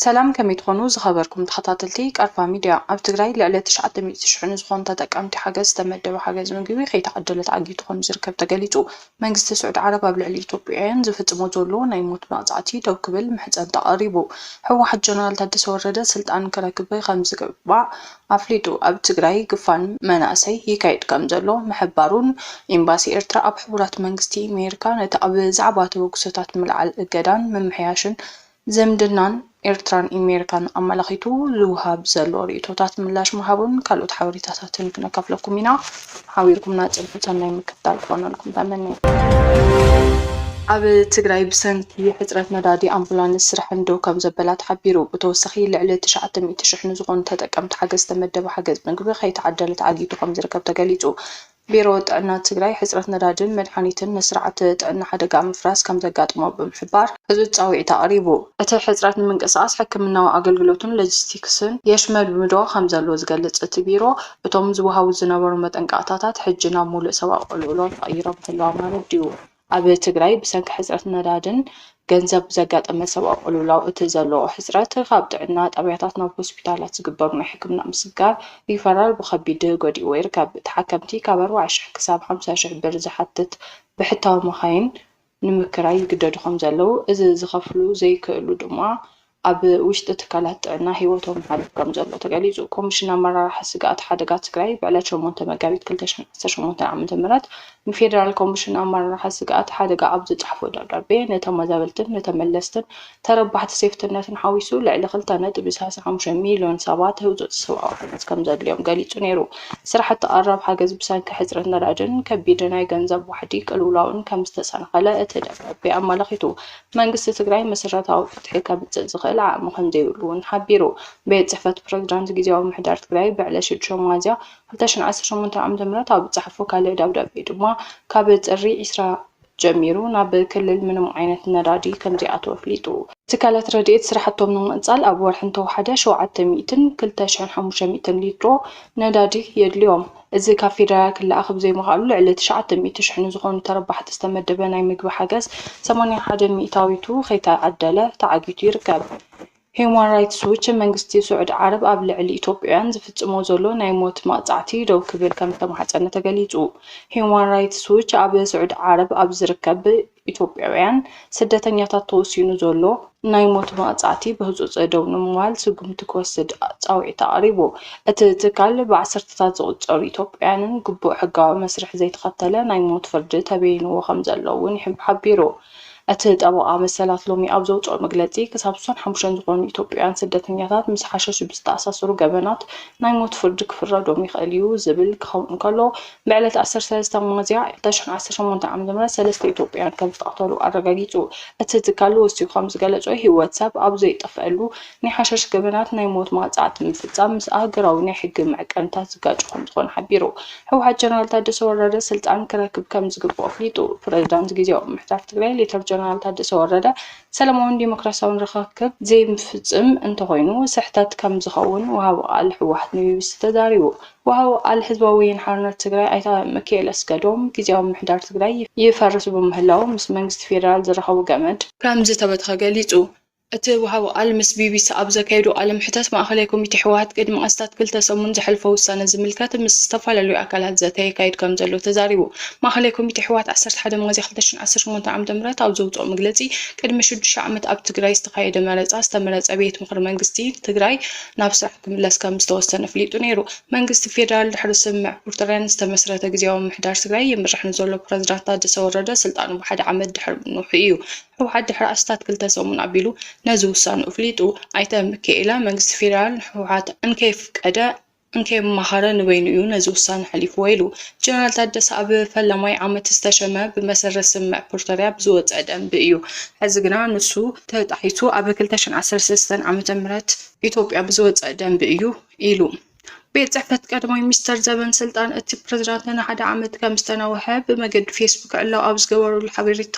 ሰላም ከመይ ትኾኑ ዝኸበርኩም ተኸታተልቲ ቃርፋ ሚድያ። ኣብ ትግራይ ልዕሊ ትሽዓተ ሚእቲ ሽሕ ንዝኾኑ ተጠቀምቲ ሓገዝ ዝተመደበ ሓገዝ ምግቢ ከይተዓደለ ተዓጊቱ ከምዝርከብ ተገሊፁ። መንግስቲ ስዑድ ዓረብ ኣብ ልዕሊ ኢትዮጵያውያን ዝፍፅሞ ዘሎ ናይ ሞት መቕፃዕቲ ደው ክብል ምሕፀንታ ኣቕሪቡ። ህወሓት ጀነራል ታደሰ ወረደ ስልጣን ክረክብ ከምዝግባእ ኣፍሊጡ። ኣብ ትግራይ ግፋን መናእሰይ ይካየድ ከምዘሎ ምሕባሩን፣ ኤምባሲ ኤርትራ ኣብ ሕቡራት መንግስቲ ኣሜሪካ ነቲ ኣብ ዛዕባ ተበግሶታት ምልዓል እገዳን ምምሕያሽን ዝምድናን ኤርትራን ኣሜሪካን ኣመላኺቱ ዝወሃብ ዘሎ ርእይቶታት ምላሽ ምሃቡን ካልኦት ሓበሬታታትን ክነካፍለኩም ኢና። ሓቢርኩምና ፅንሑ ሰናይ ምክትታል ክኾነልኩም ተመንየ። ኣብ ትግራይ ብሰንኪ ሕፅረት ነዳዲ ኣምቡላንስ ስርሐን ደው ከምዘበላ ተሓቢሩ። ብተወሳኺ ልዕሊ ትሽዓተ ሚእቲ ሽሕ ንዝኾኑ ተጠቀምቲ ሓገዝ ዝተመደበ ሓገዝ ምግቢ ከይተዓደለ ተዓጊቱ ከምዝርከብ ተገሊፁ። ቢሮ ጥዕና ትግራይ ሕፅረት ነዳድን መድሓኒትን ንስርዓተ ጥዕና ሓደጋ ምፍራስ ከምዘጋጠሞ ብምሕባር እዚ ፃውዒት ኣቕሪቡ። እቲ ሕፅረት ንምንቅስቓስ ሕክምናዊ ኣገልግሎትን ሎጂስቲክስን የሽመድምዶ ከምዘሎ ዝገልፅ እቲ ቢሮ፣ እቶም ዝወሃቡ ዝነበሩ መጠንቀቕታታት ሕጂ ናብ ምሉእ ሰብኣዊ ቅልውላው ተቐይሮም እንተለዉ ማለት ድዩ? ኣብ ትግራይ ብሰንኪ ሕጽረት ነዳድን ገንዘብ ብዘጋጠመ ሰብኣዊ ቅልውላው እቲ ዘሎ ሕጽረት ካብ ጥዕና ጣብያታት ናብ ሆስፒታላት ዝግበር ናይ ሕክምና ምስግጋር ሪፈራል ብኸቢድ ጎዲእዎ ይርከብ። ተሓከምቲ ካብ ኣርባዓ ሽሕ ክሳብ ሓምሳ ሽሕ ብር ዝሓትት ብሕታዊ መኻይን ንምክራይ ይግደዱ ከም ዘለዉ፣ እዚ ዝኸፍሉ ዘይክእሉ ድማ ኣብ ውሽጢ ትካላት ጥዕና ህይወቶም ይሓልፍ ከም ዘሎ ተገሊፁ። ኮሚሽን ኣመራርሓ ስግኣት ሓደጋ ትግራይ ብዕለት ሸሞንተ መጋቢት ክልተ ሽሕን ዓሰርተ ሸሞንተን ዓመተ ምህረት ንፌዴራል ኮሚሽን ኣመራርሓ ስግኣት ሓደጋ ኣብ ዝፀሓፎ ደብዳቤ ንተመዛበልትን ንተመለስትን ተረባሕቲ ሴፍትነትን ሓዊሱ ልዕሊ ክልተ ነጥቢ ሰላሳ ሓሙሽተ ሚልዮን ሰባት ህጹጽ ሰብኣዊ ሓገዝ ከምዘድልዮም ገሊጹ ነይሩ። ስራሕቲ ቀረብ ሓገዝ ብሰንኪ ሕጽረት ነዳድን ከቢድ ናይ ገንዘብ ዋሕዲ ቅልውላውን ከምዝተሰናኸለ እቲ ደብዳቤ ኣመላኺቱ። መንግስቲ ትግራይ መሰረታዊ ፍትሒ ከምጽእ ዝኽእል ዓቕሚ ከምዘይብሉ'ውን ሓቢሩ። ቤት ጽሕፈት ፕረዚዳንት ግዝያዊ ምምሕዳር ትግራይ ብዕለት ሽዱሽተ ሚያዝያ ክልተ ሽሕን ዓሰርተ ሸሞንተን ዓመተ ምህረት ኣብ ዝጸሓፎ ካልእ ደብዳቤ ድማ ካብ ጥሪ ዕስራ ጀሚሩ ናብ ክልል ምንም ዓይነት ነዳዲ ከምዘይኣተወ ኣፍሊጡ። ትካላት ረድኤት ስራሕቶም ንምቕፃል ኣብ ወርሒ እንተወሓደ ሸውዓተ ሚእትን ክልተ ሽሕን ሓሙሽተ ሚእትን ሊትሮ ነዳዲ የድልዮም። እዚ ካብ ፌደራል ክለኣኽ ብዘይምኽኣሉ ልዕሊ ትሽዓተ ሚእቲ ሽሕ ንዝኾኑ ተረባሕቲ ዝተመደበ ናይ ምግቢ ሓገዝ ሰማንያ ሓደ ሚእታዊቱ ከይተዓደለ ተዓጊቱ ይርከብ። ሂዩማን ራይትስ ዎች መንግስቲ ስዑዲ ዓረብ ኣብ ልዕሊ ኢትዮጵያውያን ዝፍፅሞ ዘሎ ናይ ሞት መቕፃዕቲ ደው ክብል ከም ዝተማሕፀነ ተገሊፁ። ሂዩማን ራይትስ ዎች ኣብ ስዑዲ ዓረብ ኣብ ዝርከብ ኢትዮጵያውያን ስደተኛታት ተወሲኑ ዘሎ ናይ ሞት መቕፃዕቲ ብህፁፅ ደው ንምባል ስጉምቲ ክወስድ ፃውዒት ኣቕሪቡ። እቲ ትካል ብዓሰርተታት ዝቑፀሩ ኢትዮጵያውያንን ግቡእ ሕጋዊ መስርሕ ዘይተኸተለ ናይ ሞት ፍርዲ ተበይንዎ ከም ዘሎ እውን ሓቢሩ። እቲ ጠበቓ መሰላት ሎሚ ኣብ ዘውጽኦ መግለጺ፣ ክሳብ ስሳን ሓሙሽተን ዝኾኑ ኢትዮጵያውያን ስደተኛታት ምስ ሓሸሽ ብዝተኣሳሰሩ ገበናት ናይ ሞት ፍርዲ ክፍረዶም ይኽእል'ዩ ዝብል ክኸውን እንከሎ፣ ብዕለት ዓሰርተ ሰለስተ ሚያዝያ ዕስራ ዓሰርተ ሸሞንተ ዓ.ም ሰለስተ ኢትዮጵያውያን ከምዝተቐተሉ ኣረጋጊጹ። እቲ ትካል ወሲኹ ከምዝገለጾ፣ ህይወት ሰብ ኣብ ዘይጠፍኣሉ ናይ ሓሸሽ ገበናት ናይ ሞት ማቕጻዕቲ ምፍጻም ምስ ኣህገራዊ ናይ ሕጊ መዕቀንታት ዝጋጮ ከምዝኾነ ሓቢሩ። ህወሓት ጀነራል ታደሰ ወረደ ስልጣን ክረክብ ከምዝግብኦ ኣፍሊጡ። ፕረዚዳንት ግዝያዊ ምምሕዳር ትግራይ ሌተር ጀነራል ታደሰ ወረደ ሰለማውን ዴሞክራሲያውን ርኽክብ ዘይፍጽም እንተኾይኑ ስሕተት ከምዝኸውን ወሃቢ ቃል ህወሓት ንቢቢሲ ተዛሪቡ። ወሃቢ ቃል ህዝባዊ ወያነ ሓርነት ትግራይ ኣይተ ምኪኤል ኣስገዶም ግዝያዊ ምምሕዳር ትግራይ ይፈርስ ብምህላዉ ምስ መንግስቲ ፌደራል ዝራኸቡ ገመድ ከምዝተበትኸ ገሊጹ። እቲ ወሃቢ ቃል ምስ ቢቢሲ ኣብ ዘካየዶ ቃለ መሕተት፣ ማእኸላይ ኮሚቴ ህወሓት ቅድሚ ኣስታት ክልተ ሰሙን ዘሕልፎ ውሳነ ዝምልከት ምስ ዝተፈላለዩ ኣካላት ዘተ የካይድ ከምዘሎ ተዛሪቡ። ማእኸላይ ኮሚቴ ህወሓት ዓሰርተ ሓደ ሚያዝያ ክልተ ሽሕን ዓሰርተ ሸሞንተን ዓመተ ምህረት ኣብ ዘውፅኦ መግለፂ፣ ቅድሚ ሽዱሽተ ዓመት ኣብ ትግራይ ዝተኻየደ መረፃ ዝተመረፀ ቤት ምኽሪ መንግስቲ ትግራይ ናብ ስራሕ ክምለስ ከምዝተወሰነ ኣፍሊጡ ነይሩ። መንግስቲ ፌደራል ድሕሪ ስምምዕ ፕሪቶርያን ዝተመስረተ ግዝያዊ ምምሕዳር ትግራይ ይምራሕ ንዘሎ ፕረዚዳንት ታደሰ ወረደ ስልጣኑ ብሓደ ዓመት ድሕሪ ምንውሑ እዩ ህወሓት ድሕሪ ኣስታት ክልተ ሰሙን ኣቢሉ ነዚ ውሳንኡ ኣፍሊጡ። ኣይተ ሚኪኤለ፣ መንግስቲ ፌደራል ንህወሓት እንከየፍቀደ እንከየማኸረ ንበይኑ እዩ ነዚ ውሳነ ኣሕሊፍዎ ኢሉ። ጀነራል ታደሰ ኣብ ፈላማይ ዓመት ዝተሸመ ብመሰረት ስምምዕ ፕሪቶርያ ብዝወፀ ደንቢ እዩ። ሕዚ ግና ንሱ ተጣሒሱ ኣብ ክልተ ሽሕን ዓሰርተ ሰለስተን ዓመተ ምህረት ኢትዮጵያ ብዝወፀ ደንቢ እዩ ኢሉ። ቤት ጽሕፈት ቀዳማይ ሚኒስተር ዘበን ስልጣን እቲ ፕሬዝዳንት ንሓደ ዓመት ከም ዝተናውሐ ብመገዲ ፌስቡክ ዕላው ኣብ ዝገበሩሉ ሓበሬታ፣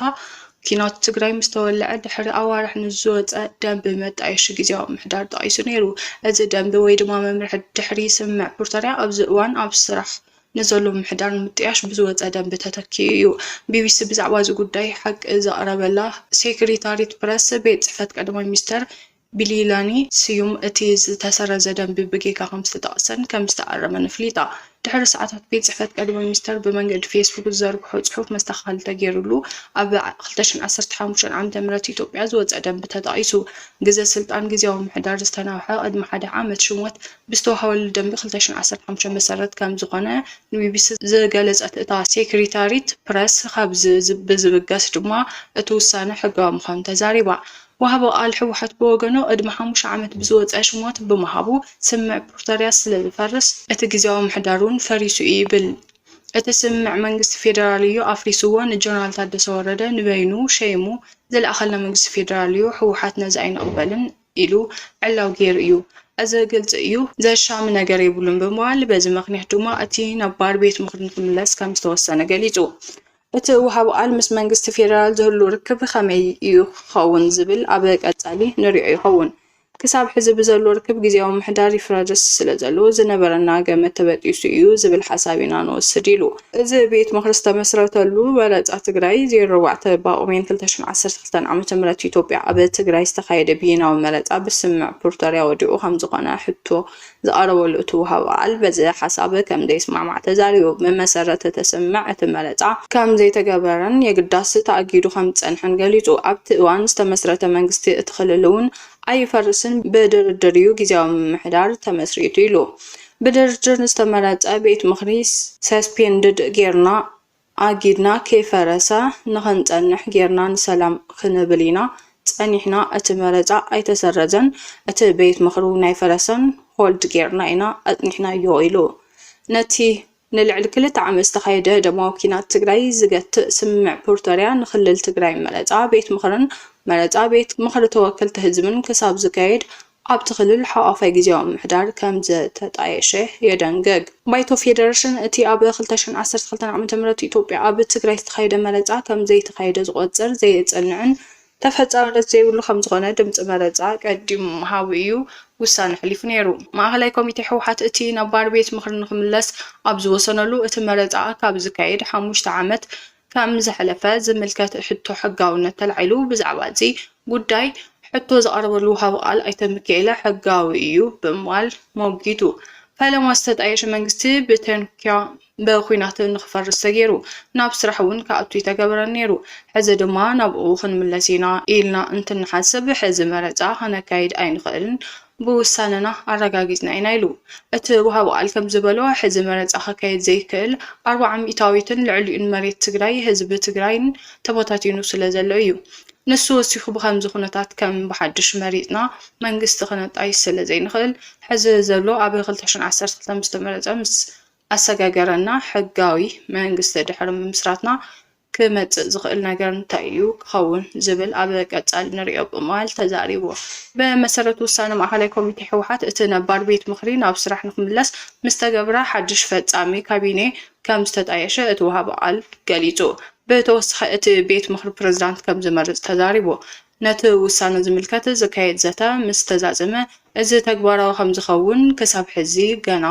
ኲናት ትግራይ ምስ ተወልዐ ድሕሪ ኣዋርሕ ንዝወጸ ደንቢ መጣየሺ ግዜያዊ ምሕዳር ጠቒሱ ነይሩ። እዚ ደንቢ ወይ ድማ መምርሒ ድሕሪ ስምምዕ ፕሪቶርያ ኣብዚ እዋን ኣብ ስራሕ ንዘሎ ምምሕዳር ንምጥያሽ ብዝወጸ ደንቢ ተተኪኡ እዩ። ቢቢሲ ብዛዕባ እዚ ጉዳይ ሓቂ ዘቕረበላ ሴክሪታሪት ፕረስ ቤት ጽሕፈት ቀዳማይ ሚኒስተር ቢሊላኒ ስዩም እቲ ዝተሰረዘ ደንቢ ብጌጋ ከምዝተጠቕሰን ከምዝተኣረመን ኣፍሊጣ። ድሕሪ ሰዓታት ቤት ጽሕፈት ቀዳማይ ሚኒስተር ብመንገዲ ፌስቡክ ዝዘርግሖ ጽሑፍ መስተኻኸሊ ተገይሩሉ ኣብ ክልተ ሽሕን ዓሰርተ ሓሙሽተን ዓመተ ምህረት ኢትዮጵያ ዝወጸ ደንቢ ተጠቒሱ ግዘ ስልጣን ግዝያዊ ምምሕዳር ዝተናውሐ ቅድሚ ሓደ ዓመት ሽሞት ብዝተዋህበሉ ደንቢ ክልተ ሽሕን ዓሰርተ ሓሙሽተን መሰረት ከምዝኾነ ንቢቢሲ ዝገለጸት እታ ሴክሪታሪት ፕረስ ካብዚ ብዝብገስ ድማ እቲ ውሳነ ሕጋዊ ምዃኑ ተዛሪባ። ወሃቢ ቃል ህወሓት ብወገኑ ቅድሚ ሓሙሽተ ዓመት ብዝወፀ ሽሞት ብምሃቡ ስምምዕ ፕሪቶርያ ስለዝፈርስ እቲ ግዝያዊ ምሕዳር እውን ፈሪሱ እዩ ይብል። እቲ ስምምዕ መንግስቲ ፌደራል እዩ ኣፍሪስዎ፣ ንጀነራል ታደሰ ወረደ ንበይኑ ሸይሙ ዝለኣኸልና መንግስቲ ፌደራል እዩ፣ ህወሓት ነዚ ኣይንቕበልን ኢሉ ዕላዊ ገይሩ እዩ። እዚ ግልፂ እዩ፣ ዘሻሚ ነገር የብሉን ብምባል በዚ ምኽንያት ድማ እቲ ነባር ቤት ምኽሪ ንክምለስ ከምዝተወሰነ ገሊፁ። እቲ ወሃቢ ቃል ምስ መንግስቲ ፌደራል ዝህሉ ርክብ ከመይ እዩ ክኸውን ዝብል ኣብ ቀፃሊ ንሪኦ ይኸውን። ክሳብ ሕዚ ብዘሎ ርክብ ግዜያዊ ምሕዳር ይፍረርስ ስለዘሎ ዝነበረና ገመድ ተበጢሱ እዩ ዝብል ሓሳብ ኢና ንወስድ ኢሉ። እዚ ቤት ምኽሪ ዝተመስረተሉ መረፃ ትግራይ ዜሮ ኣርባዕተ ጳጉሜን ክልተ ሽሕን ዓሰርተ ክልተ ዓ.ም ኢትዮጵያ ኣብ ትግራይ ዝተኻየደ ብይናዊ መረፃ ብስምምዕ ፕሪቶርያ ወዲቑ ከምዝኾነ ሕቶ ዝቐረበሉ እቲ ወሃቢ ቃል በዚ ሓሳብ ከም ዘይስማዕማዕ ተዛሪቡ። ብመሰረት እቲ ስምምዕ እቲ መረፃ ከም ዘይተገበረን የግዳስ ተኣጊዱ ከም ዝፀንሐን ገሊፁ። ኣብቲ እዋን ዝተመስረተ መንግስቲ እቲ ክልል እውን ኣይፈርስን ብድርድር እዩ ጊዚያዊ ምምሕዳር ተመስሪቱ ኢሉ። ብድርድር ዝተመረፀ ቤት ምኽሪ ሰስፔንድድ ገይርና ኣጊድና ከይፈረሰ ንኽንጸንሕ ጌርና ንሰላም ክንብል ኢና ጸኒሕና እቲ መረጻ ኣይተሰረዘን እቲ ቤት ምኽሪ እውን ኣይፈረሰን ሆልድ ጌርና ኢና ኣጽኒሕናዮ ኢሉ። ነቲ ንልዕሊ ክልተ ዓመት ዝተኻየደ ደማዊ ኲናት ትግራይ ዝገትእ ስምምዕ ፕሪቶርያ ንክልል ትግራይ መረጻ ቤት ምኽርን መረጻ ቤት ምኽሪ ተወከልቲ ህዝብን ክሳብ ዝካየድ ኣብቲ ክልል ሓቋፋይ ግዝያዊ ምምሕዳር ከምዘተጣየሸ የደንግግ። ባይቶ ፌደረሽን እቲ ኣብ ክልተ ሽሕን ዓሰርተ ክልተን ዓመተ ምህረት ኢትዮጵያ ኣብ ትግራይ ዝተኻየደ መረፃ ከምዘይተኻየደ ዝቖፅር፣ ዘየፅንዕን ተፈፃምነት ዘይብሉ ከምዝኾነ ድምፂ መረፃ ቀዲሙ ምሃቡ እዩ ውሳነ ኣሕሊፉ ነይሩ። ማእኸላይ ኮሚቴ ህወሓት እቲ ነባር ቤት ምኽሪ ንክምለስ ኣብ ዝወሰነሉ እቲ መረፃ ካብ ዝካየድ ሓሙሽተ ዓመት ከም ዝሐለፈ ዝምልከት ሕቶ ሕጋውነት ተላዒሉ ብዛዕባ እዚ ጉዳይ ሕቶ ዝቐረበሉ ወሃቢ ቃል ኣይተ ሚኪኤለ ሕጋዊ እዩ ብምባል ሞጊቱ። ፈለማ ዝተጣየሸ መንግስቲ ብተንኪያ በኩናት ንክፈርስ ተገይሩ ናብ ስራሕ እውን ክኣቱ ይተገበረን ነይሩ ሕዚ ድማ ናብኡ ክንምለስ ኢና ኢልና እንትንሓስብ ሕዚ መረፃ ከነካይድ ኣይንኽእልን ብውሳነና ኣረጋጊፅና ኢና ኢሉ። እቲ ወሃቢ ቃል ከምዝበሎ፣ ሕዚ መረፃ ከካየድ ዘይክእል ኣርባዓ ሚኢታዊትን ልዕሊኡን መሬት ትግራይ ህዝቢ ትግራይን ተበታቲኑ ስለዘሎ እዩ። ንሱ ወሲኹ ብኸምዚ ኩነታት ከም ብሓዱሽ መሪፅና መንግስቲ ክነጣይሽ ስለዘይንኽእል ሕዚ ዘሎ ኣብ ክልተ ሽሕን ዓሰርተ ክልተን ዝተመረፀ ምስ ኣሰጋገረና ሕጋዊ መንግስቲ ድሕሪ ምምስራትና ክመጽእ ዝኽእል ነገር እንታይ እዩ ክኸውን ዝብል ኣብ ቀጻሊ ንርእዮ ብምባል ተዛሪቡ። ብመሰረት ውሳነ ማእኸላይ ኮሚቴ ህወሓት እቲ ነባር ቤት ምኽሪ ናብ ስራሕ ንክምለስ ምስተገብረ ሓድሽ ፈፃሚ ካቢኔ ከምዝተጣየሸ እቲ ወሃቢ ቃል ገሊፁ። ብተወሳኺ እቲ ቤት ምኽሪ ፕሬዝዳንት ከምዝመርፅ ተዛሪቡ። ነቲ ውሳነ ዝምልከት ዝካየድ ዘተ ምስተዛዘመ እዚ ተግባራዊ ከምዝኸውን ክሳብ ሕዚ ገና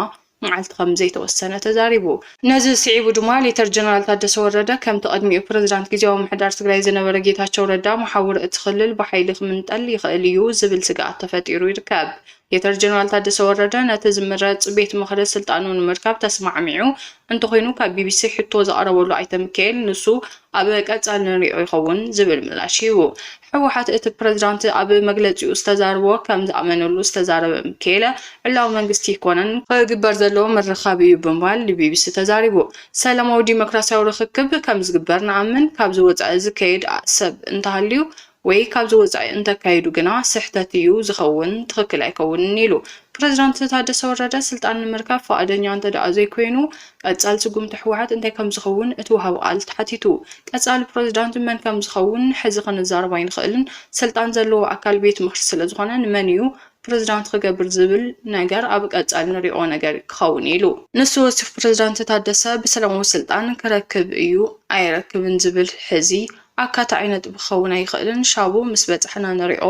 መዓልቲ ከም ዘይተወሰነ ተዛሪቡ። ነዚ ስዒቡ ድማ ሌተር ጀነራል ታደሰ ወረደ ከምቲ ቅድሚኡ ፕረዚዳንት ግዝያዊ ምምሕዳር ትግራይ ዝነበረ ጌታቸው ረዳ መሓውር እቲ ክልል ብሓይሊ ክምንጠል ይኽእል እዩ ዝብል ስግኣት ተፈጢሩ ይርከብ። ሌተር ጀነራል ታደሰ ወረደ ነቲ ዝምረፅ ቤት ምኽሪ ስልጣኑ ንምርካብ ተስማዕሚዑ እንተኾይኑ ካብ ቢቢሲ ሕቶ ዝቐረበሉ ኣይተ ሚካኤል ንሱ ኣብ ቀፃሊ ንሪኦ ይኸውን ዝብል ምላሽ ሂቡ። ህወሓት እቲ ፕረዚዳንት ኣብ መግለፂኡ ዝተዛረቦ ከም ዝኣመነሉ ዝተዛረበ ሚኪኤለ፣ ዕላዊ መንግስቲ ኣይኮነን፣ ክግበር ዘለዎ ምርኻብ እዩ ብምባል ንቢቢሲ ተዛሪቡ። ሰላማዊ ዲሞክራሲያዊ ርኽክብ ከም ዝግበር ንኣምን፣ ካብዚ ወፃኢ ዝከየድ ሰብ እንተሃልዩ ወይ ካብዚ ወፃኢ እንተካይዱ ግና ስሕተት እዩ ዝኸውን፣ ትኽክል ኣይከውንን ኢሉ። ፕረዚዳንት ታደሰ ወረደ ስልጣን ንምርካብ ፍቓደኛ እንተድኣ ዘይኮይኑ፣ ቀፃሊ ስጉምቲ ህወሓት እንታይ ከምዝኸውን እቲ ወሃቢ ቃል ተሓቲቱ። ቀፃሊ ፕረዚዳንት መን ከምዝኸውን ሕዚ ክንዛረብ ኣይንኽእልን። ስልጣን ዘለዎ ኣካል ቤት ምኽሪ ስለዝኾነ ንመን ኢዩ ፕረዚዳንት ክገብር ዝብል ነገር ኣብ ቀፃሊ ንሪኦ ነገር ክኸውን ኢዩ ኢሉ። ንሱ ወሲኹ ፕረዚዳንት ታደሰ ብሰላማዊ ስልጣን ክረክብ ኢዩ ኣይረክብን ዝብል ሕዚ ኣካታዒ ነጥቢ ክኸውን ኣይኽእልን ሻቡ ምስ በፃሕና ንሪኦ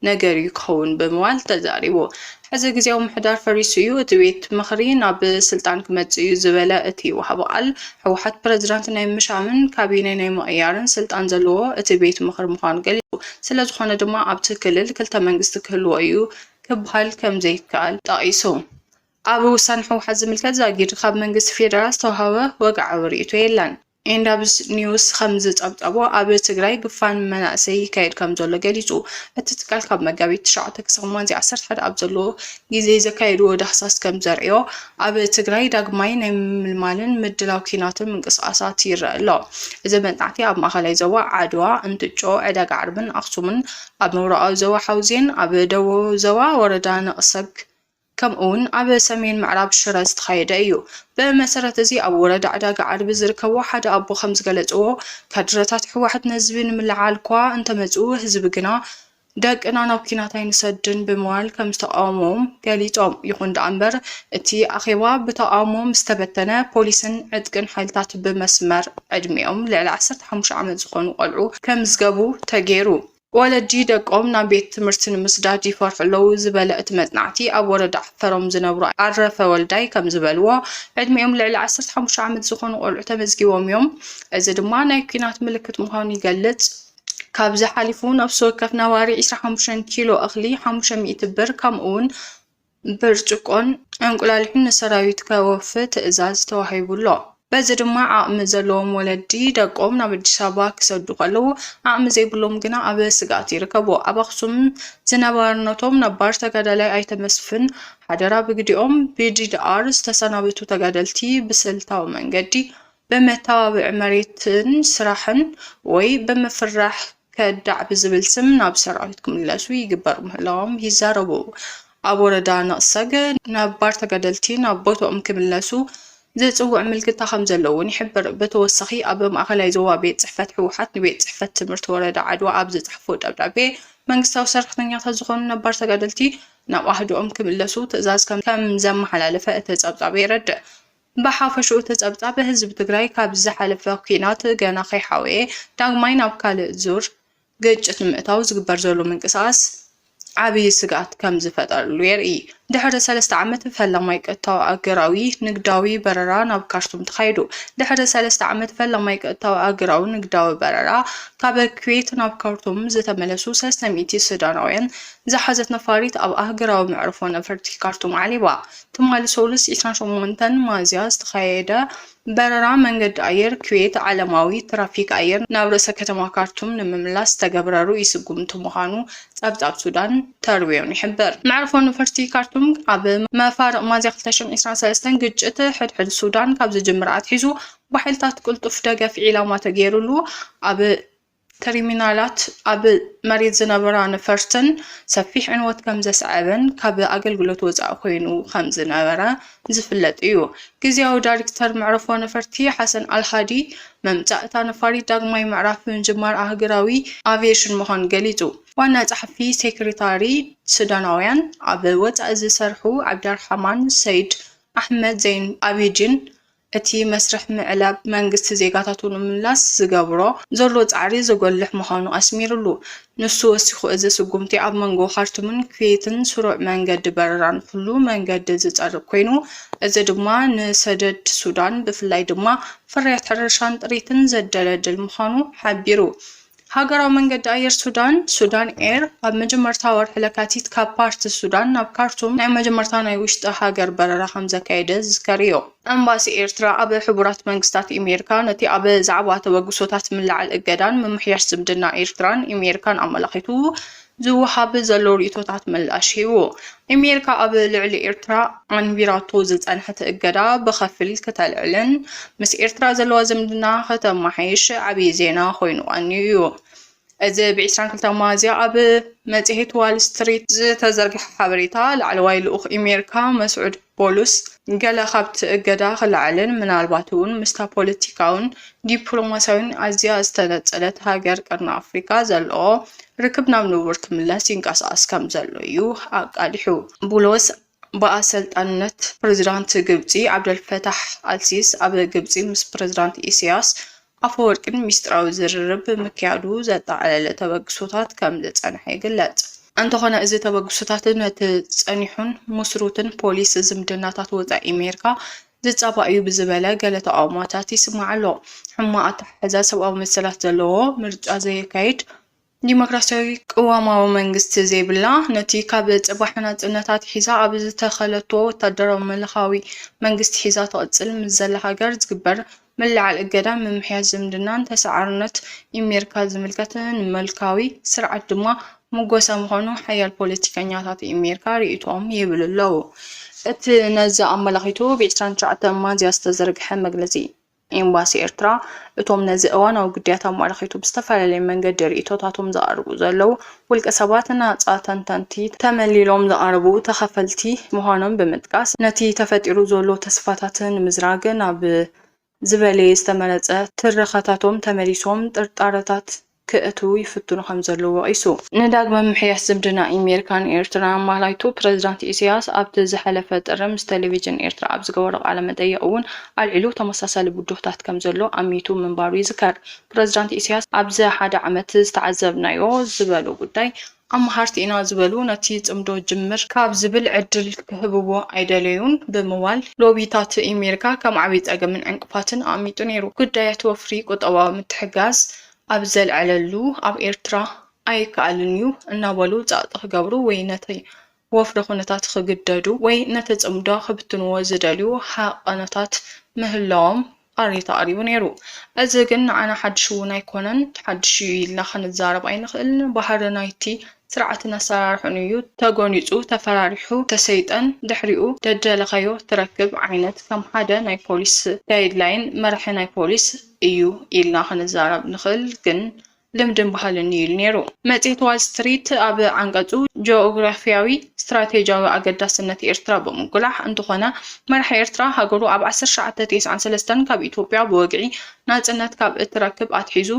ነገር እዩ ክኸውን ብምባል ተዛሪቡ። ሕዚ ግዝያዊ ምሕዳር ፈሪሱ እዩ፣ እቲ ቤት ምኽሪ ናብ ስልጣን ክመፅእ እዩ ዝበለ እቲ ወሃቢ ቃል፣ ህወሓት ፕረዚዳንት ናይ ምሻምን ካቢኔ ናይ ምቕያርን ስልጣን ዘለዎ እቲ ቤት ምኽሪ ምዃኑ ገሊፁ። ስለዝኾነ ድማ ኣብቲ ክልል ክልተ መንግስቲ ክህልዎ እዩ ክበሃል ከምዘይከኣል ጠቒሱ። ኣብ ውሳነ ህወሓት ዝምልከት ዛጊድ ካብ መንግስቲ ፌደራል ዝተውሃበ ወግዓዊ ርኢቶ የለን። ኤንዳብስ ኒውስ ከም ዝፀብፀቦ ኣብ ትግራይ ግፋን መናእሰይ ይካየድ ከም ዘሎ ገሊፁ። እቲ ትካል ካብ መጋቢት ትሽዓተ ክሳብ ሚያዝያ ዓሰርተ ሓደ ኣብ ዘሎ ግዜ ዘካየድዎ ዳህሳስ ከም ዘርእዮ ኣብ ትግራይ ዳግማይ ናይ ምምልማልን ምድላው ኲናትን ምንቅስቓሳት ይረኣ ኣሎ። እዚ መጥናዕቲ ኣብ ማእኸላይ ዞባ ዓድዋ፣ እንትጮ፣ ዕዳጋ ዓርብን ኣኽሱምን፣ ኣብ ምብራቓዊ ዞባ ሓውዜን፣ ኣብ ደቡባዊ ዞባ ወረዳ ነቕሰግ፣ ከምኡ'ውን ኣብ ሰሜን ምዕራብ ሽረ ዝተኻየደ እዩ። ብመሰረት እዚ ኣብ ወረዳ ዕዳጋ ዓርቢ ዝርከቡ ሓደ ኣቦ ከምዝገለፅዎ፣ ካድረታት ህወሓት ንህዝቢ ንምልዕዓል'ኳ እንተመፅኡ ህዝቢ ግና ደቅና ናብ ኲናት ኣይንሰድን ብምባል ከምዝተቓወምዎም ገሊፆም። ይኹን ደኣ'ምበር እቲ ኣኼባ ብተቓውሞ ምስተበተነ ፖሊስን ዕጥቅን ሓይልታት ብመስመር ዕድሚኦም ልዕሊ ዓሰርተ ሓሙሽተ ዓመት ዝኾኑ ቆልዑ ከምዝገቡ ተገይሩ። ወለዲ ደቆም ናብ ቤት ትምህርቲ ንምስዳድ ይፈርሑ ኣለዉ ዝበለ እቲ መፅናዕቲ፣ ኣብ ወረዳ ዓፈሮም ዝነብሩ ኣረፈ ወልዳይ ከምዝበልዎ፣ ዕድሚኦም ልዕሊ ዓሰርተ ሓሙሽተ ዓመት ዝኾኑ ቆልዑ ተመዝጊቦም እዮም። እዚ ድማ ናይ ኲናት ምልክት ምዃኑ ይገልፅ። ካብዚ ሓሊፉ ነፍሲ ወከፍ ነባሪ ዕስራ ሓሙሽተ ኪሎ እኽሊ ሓሙሽተ ሚእቲ ብር ከምኡ'ውን ብርጭቆን እንቁላሊሕን ንሰራዊት ከወፊ ትእዛዝ ተዋሂቡ ኣሎ። በዚ ድማ ዓቕሚ ዘለዎም ወለዲ ደቆም ናብ ኣዲስ ኣበባ ክሰዱ ከለዉ ዓቕሚ ዘይብሎም ግና ኣብ ስግኣት ይርከቡ። ኣብ ኣኽሱም ዝነባርነቶም ነባር ተጋዳላይ ኣይተ መስፍን ሓደራ ብግዲኦም ብዲዲኣር ዝተሰናበቱ ተጋደልቲ ብስልታዊ መንገዲ ብመተባብዒ መሬትን ስራሕን ወይ ብምፍራሕ ከዳዕ ብዝብል ስም ናብ ሰራዊት ክምለሱ ይግበር ምህላዎም ይዛረቡ። ኣብ ወረዳ ነቕሰግ ነባር ተጋደልቲ ናብ ቦትኦም ክምለሱ ዝጽውዕ ምልክታ ከምዘሎ እውን ይሕብር። ብተወሳኺ ኣብ ማእኸላይ ዞባ ቤት ጽሕፈት ህወሓት ንቤት ጽሕፈት ትምህርቲ ወረዳ ዓድዋ ኣብ ዝጸሓፎ ደብዳቤ መንግስታዊ ሰራሕተኛታት ዝኾኑ ነባር ተጋደልቲ ናብ ኣሃዱኦም ክምለሱ ትእዛዝ ከምዘመሓላለፈ እቲ ጸብጻብ የረድእ። ብሓፈሽኡ ተጸብጻብ ህዝቢ ትግራይ ካብዚ ዝሓለፈ ኲናት ገና ከይሓወየ ዳግማይ ናብ ካልእ ዙር ግጭት ንምእታው ዝግበር ዘሎ ምንቅስቓስ ዓብዪ ስግኣት ከምዝፈጠረሉ የርኢ። ድሕሪ ሰለስተ ዓመት ፈላማይ ቀጥታዊ ኣገራዊ ንግዳዊ በረራ ናብ ካርቱም ተኻይዱ። ድሕሪ ሰለስተ ዓመት ፈላማይ ቀጥታዊ ኣገራዊ ንግዳዊ በረራ ካብ ኩዌት ናብ ካርቱም ዝተመለሱ ሰለስተ ሚእቲ ሱዳናውያን ዝሓዘት ነፋሪት ኣብ ኣህገራዊ መዕርፎ ነፈርቲ ካርቱም ዓሊባ። ትማሊ ሰሉስ ዕስራን ሸሞንተን ሚያዝያ ዝተኻየደ በረራ መንገዲ ኣየር ኩዌት ዓለማዊ ትራፊክ ኣየር ናብ ርእሰ ከተማ ካርቱም ንምምላስ ዝተገብረ ርኡይ ስጉምቲ ምዃኑ ጸብጻብ ሱዳን ተርቢዮን ይሕብር። መዕርፎ ነፈርቲ ካርቱም ኣብ መፋርቕ ሚያዝያ ክልተ ሽሕን ዕስራን ሰለስተን ግጭት ሕድሕድ ሱዳን ካብ ዝጅምር ኣትሒዙ ብሓይልታት ቅልጡፍ ደገፍ ዒላማ ተገይሩሉ ኣብ ተርሚናላት ኣብ መሬት ዝነበራ ነፈርትን ሰፊሕ ዕንወት ከምዘስዐበን ካብ ኣገልግሎት ወፃኢ ኮይኑ ከምዝነበረ ዝፍለጥ እዩ። ግዝያዊ ዳይሬክተር መዕረፎ ነፈርቲ ሓሰን ኣልሃዲ ምምፃእ እታ ነፋሪት ዳግማይ ምዕራፍ ምጅማር ኣህግራዊ ኣቪዬሽን ምዃኑ ገሊፁ። ዋና ፀሓፊ ሴክሬታሪ ሱዳናውያን ኣብ ወፃኢ ዝሰርሑ ዓብዳርሓማን ሰይድ ኣሕመድ ዘይን ኣቢዲን እቲ መስርሕ ምዕላብ መንግስቲ ዜጋታቱ ንምምላስ ዝገብሮ ዘሎ ጻዕሪ ዘጎልሕ ምዃኑ ኣስሚርሉ። ንሱ ወሲኹ እዚ ስጉምቲ ኣብ መንጎ ካርቱምን ኩዌትን ስሩዕ መንገዲ በረራ ንኹሉ መንገዲ ዝጸርግ ኮይኑ እዚ ድማ ንሰደድ ሱዳን ብፍላይ ድማ ፍርያት ሕርሻን ጥሪትን ዘደለድል ምዃኑ ሓቢሩ። ሃገራዊ መንገዲ ኣየር ሱዳን፣ ሱዳን ኤር፣ ኣብ መጀመርታ ወርሒ ለካቲት ካብ ፓርት ሱዳን ናብ ካርቱም ናይ መጀመርታ ናይ ውሽጢ ሃገር በረራ ከምዘካየደ ዝዝከር እዩ። ኤምባሲ ኤርትራ ኣብ ሕቡራት መንግስታት ኢሜሪካ ነቲ ኣብ ዛዕባ ተበግሶታት ምልዓል እገዳን ምምሕያሽ ዝምድና ኤርትራን ኢሜሪካን ኣመላኺቱ ዝወሃብ ዘሎ ርእይቶታት ምላሽ ሂቡ። ኣሜሪካ ኣብ ልዕሊ ኤርትራ ኣንቢራቶ ዝጸንሐት እገዳ ብኸፊል ክተልዕልን ምስ ኤርትራ ዘለዋ ዝምድና ከተመሓይሽ ዓብዪ ዜና ኮይኑ ቀንዩ እዩ። እዚ ብ ዕስራን ክልተን ሚያዝያ ኣብ መጽሔት ዋል ስትሪት ዝተዘርግሐ ሓበሬታ፣ ላዕለዋይ ልኡኽ ኣሜሪካ መስዑድ ፖሉስ ገለ ካብቲ እገዳ ክለዓልን ምናልባት'ውን ምስታ ፖለቲካውን ዲፕሎማስያውን ኣዝያ ዝተነጸለት ሃገር ቀርኒ ኣፍሪቃ ዘለዎ ርክብ ናብ ንቡር ክምለስ ይንቀሳቐስ ከምዘሎ'ዩ ኣቃሊሑ። ቡሎስ ብኣሰልጣንነት ፕረዚዳንት ግብጺ ዓብደልፈታሕ ኣልሲስ ኣብ ግብጺ ምስ ፕረዚዳንት ኢሳይያስ ኣፈወርቂን ሚስጥራዊ ዝርርብ ምክያዱ ዘጠቓለለ ተበግሶታት ከም ዝጸንሐ ይግለጽ። እንተኾነ እዚ ተበግሶታት ነቲ ጸኒሑን ምስሩትን ፖሊስ ዝምድናታት ወጻኢ ኣሜሪካ ዝጻባእ እዩ ብዝበለ ገለ ተቓውሞታት ይስማዕ ኣሎ። ሕማቕ ኣተሓሕዛ ሰብኣዊ መሰላት ዘለዎ ምርጫ ዘየካይድ ዲሞክራሲያዊ ቅዋማዊ መንግስቲ ዘይብላ፣ ነቲ ካብ ጽባሕ ናጽነት ኣትሒዛ ኣብ ዝተኸለቶ ወታደራዊ ምልኻዊ መንግስቲ ሒዛ ትቕጽል ምስ ዘላ ሃገር ዝግበር ምልዕዓል እገዳን ምምሕያሽ ዝምድናን ተሰዓርነት ኢሜርካ ዝምልከት ንምልካዊ ስርዓት ድማ ምጎሳ ምዃኑ ሓያል ፖለቲከኛታት ኢሜርካ ርእይቶኦም ይህብሉ ኣለዉ። እቲ ነዚ ኣመላኺቱ ብ ዕስራን ትሽዓተን ሚያዝያ ዝተዘርግሐ መግለጺ፣ ኤምባሲ ኤርትራ፣ እቶም ነዚ እዋናዊ ግዳያት ኣመልኺቱ ብዝተፈላለየ መንገዲ ርእይቶታቶም ዘቕርቡ ዘለዉ ውልቀ ሰባት፣ ናጻ ተንተንቲ፣ ተመሊሎም ዝቐረቡ ተኸፈልቲ ምዃኖም ብምጥቃስ፣ ነቲ ተፈጢሩ ዘሎ ተስፋታት ንምዝራግ ናብ ዝበለየ ዝተመረጸ ትረኻታቶም ተመሊሶም ጥርጣረታት ክእትው ይፍትኑ ከምዘለዉ ወቒሱ። ንዳግመ ምምሕያሽ ዝምድና ኢሜሪካን ኤርትራን ኣማላይቱ ፕረዚዳንት ኢሰያስ ኣብቲ ዝሐለፈ ጥሪ ምስ ተሌቪዥን ኤርትራ ኣብ ዝገበሮ ቃለ መጠይቕ እውን ኣልዒሉ ተመሳሳሊ ብድሆታት ከምዘሎ ኣሚቱ ምንባሩ ይዝከር። ፕረዚዳንት ኢሰያስ ኣብዚ ሐደ ዓመት ዝተዓዘብናዮ ዝበሎ ጉዳይ ኣማሃርቲ ኢና ዝበሉ ነቲ ጽምዶ ጅምር ካብ ዝብል ዕድል ክህብዎ ኣይደለዩን ብምባል ሎቢታት ኢሜሪካ ከም ዓብይ ጸገምን ዕንቅፋትን ኣቕሚጡ ነይሩ። ጉዳያት ወፍሪ ቁጠባዊ ምትሕግጋዝ ኣብ ዘልዐለሉ ኣብ ኤርትራ ኣይከኣልን እዩ እናበሉ ጸቕጢ ክገብሩ ወይ ነቲ ወፍሪ ኩነታት ክግደዱ ወይ ነቲ ጽምዶ ክብትንዎ ዝደልዩ ሃቐኖታት ምህላዎም ቃሬታ ኣቕሪቡ ነይሩ። እዚ ግን ንዓና ሓድሽ'ውን ኣይኮነን። ሓድሽ'ዩ ኢልና ክንዛረብ ኣይንኽእልን። ባህሪ ናይቲ ስርዓትን ኣሰራርሕኡን'ዩ። ተጎኒጹ፣ ተፈራሪሑ፣ ተሰይጠን ድሕሪኡ ደደለኻዮ ትረክብ ዓይነት ከም ሓደ ናይ ፖሊስ ጋይድላይን መርሒ ናይ ፖሊስ እዩ ኢልና ክንዛረብ ንኽእል። ግን ልምድን ባህልን'ዩ ኢሉ ነይሩ። መጽሔት ዋል ስትሪት ኣብ ዓንቀጹ፣ ጂኦግራፍያዊ ስትራቴጂያዊ ኣገዳስነት ኤርትራ ብምጕላሕ፣ እንተዀነ መራሒ ኤርትራ፣ ሃገሩ ኣብ ዓሰርተ ትሽዓተ ቴስዓን ሰለስተን ካብ ኢትዮጵያ ብወግዒ ናጽነት ካብ እትረክብ ኣትሒዙ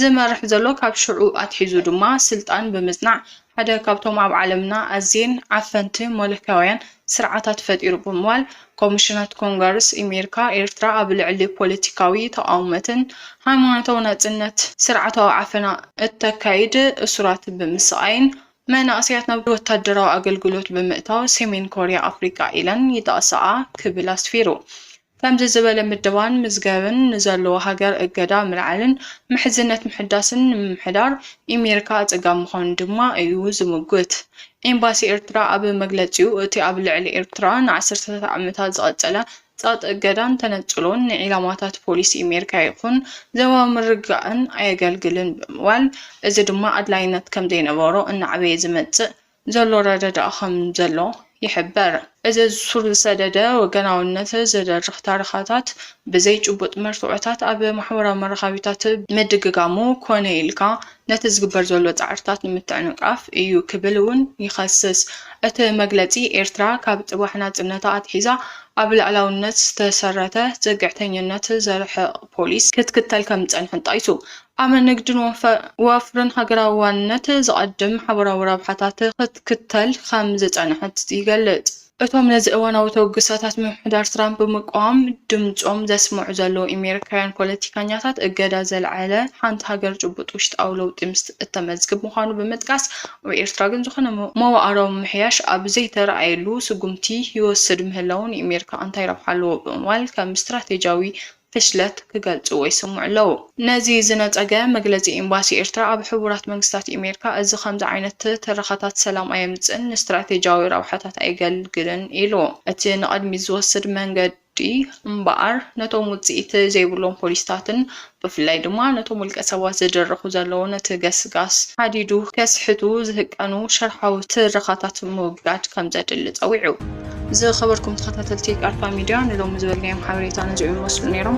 ዝመርሕ ዘሎ፣ ካብ ሽዑ ኣትሒዙ ድማ ስልጣን ብምጽናዕ ሓደ ካብቶም ኣብ ዓለምና ኣዝየን ዓፈንቲ መለክያውያን ስርዓታት ፈጢሩ ብምባል ኮሚሽናት ኮንገርስ ኢሜሪካ ኤርትራ ኣብ ልዕሊ ፖለቲካዊ ተቓውመትን ሃይማኖታዊ ናጽነት ስርዓታዊ ዓፈና እተካይድ እሱራት ብምስቓይን መናእሰያት ናብ ወታደራዊ ኣገልግሎት ብምእታው ሰሜን ኮርያ ኣፍሪቃ ኢለን ይጠቕሳኣ ክብል ኣስፊሩ። ከምዚ ዝበለ ምደባን ምዝገብን ንዘለዎ ሃገር እገዳ ምልዓልን ምሕዝነት ምሕዳስን ንምምሕዳር ኢሜሪካ ኣጸጋሚ ምዃኑ ድማ እዩ ዝምጉት። ኤምባሲ ኤርትራ ኣብ መግለጺኡ እቲ ኣብ ልዕሊ ኤርትራ ንዓሰርተታት ዓመታት ዝቐጸለ ጸቕጢ እገዳን ተነጽሎን ንዒላማታት ፖሊሲ ኢሜሪካ ይኹን ዞባዊ ምርግጋእን ኣየገልግልን ብምባል እዚ ድማ ኣድላይነት ከምዘይነበሮ እናዕበየ ዝመጽእ ዘሎ ረደድኣ ከም ዘሎ ይሕበር። እዚ ሱር ዝሰደደ ወገናውነት ዝደርኽ ታርኻታት ብዘይ ጭቡጥ መርትዖታት ኣብ ማሕበራዊ መራኸቢታት ምድግጋሙ ኮነ ኢልካ ነቲ ዝግበር ዘሎ ጻዕርታት ንምትዕንቃፍ እዩ ክብል እውን ይኸስስ እቲ መግለጺ። ኤርትራ ካብ ጽባሕ ናጽነታ ኣትሒዛ ኣብ ልኣላውነት ዝተሰረተ ጽግዕተኝነት ዘርሕቕ ፖሊሲ ክትክተል ከም ዝጸንሐት ጠቒሱ። ኣብ ንግድን ወፍርን ሃገራዊ ዋንነት ዘቐድም ሓባራዊ ረብሓታት ክትክተል ከም ዝጸንሐት ይገልጽ። እቶም ነዚ እዋናዊ ተበግሶታት ምምሕዳር ትራምፕ ብምቅዋም ድምጾም ዘስምዑ ዘለዉ ኤሜሪካውያን ፖለቲከኛታት እገዳ ዘልዐለ ሓንቲ ሃገር ጭቡጥ ውሽጣዊ ለውጢ ምስ እተመዝግብ ምዃኑ ብምጥቃስ ኣብ ኤርትራ ግን ዝኾነ መዋእላዊ ምምሕያሽ ኣብ ዘይተራእየሉ ስጉምቲ ይወስድ ምህላዉ ንኤሜሪካ እንታይ ረብሓ ኣለዎ ብምባል ከም ስትራቴጂያዊ ፍሽለት ክገልጽዎ ይስምዑ ኣለዉ። ነዚ ዝነጸገ መግለጺ ኤምባሲ ኤርትራ ኣብ ሕቡራት መንግስታት ኢሜርካ፣ እዚ ከምዚ ዓይነት ትረኻታት ሰላም ኣየምጽእን፣ ንስትራቴጂያዊ ረብሓታት ኣየገልግልን ኢሉ። እቲ ንቐድሚት ዝወስድ መንገዲ እምበኣር ነቶም ውጽኢት ዘይብሎም ፖሊሲታትን ብፍላይ ድማ ነቶም ውልቀሰባት ዝድርኹ ዘለዉ ነቲ ገስጋስ ሃዲዱ ከስሕቱ ዝህቀኑ ሽርሓዊ ትረኻታት ምውጋድ ከምዘድሊ ጸዊዑ። ዝኸበርኩም ተኸታተልቲ ቃልፋ ሚድያ ንሎሚ ዝበልናዮም ሓበሬታ ነዚኦም ይመስሉ ነይሮም።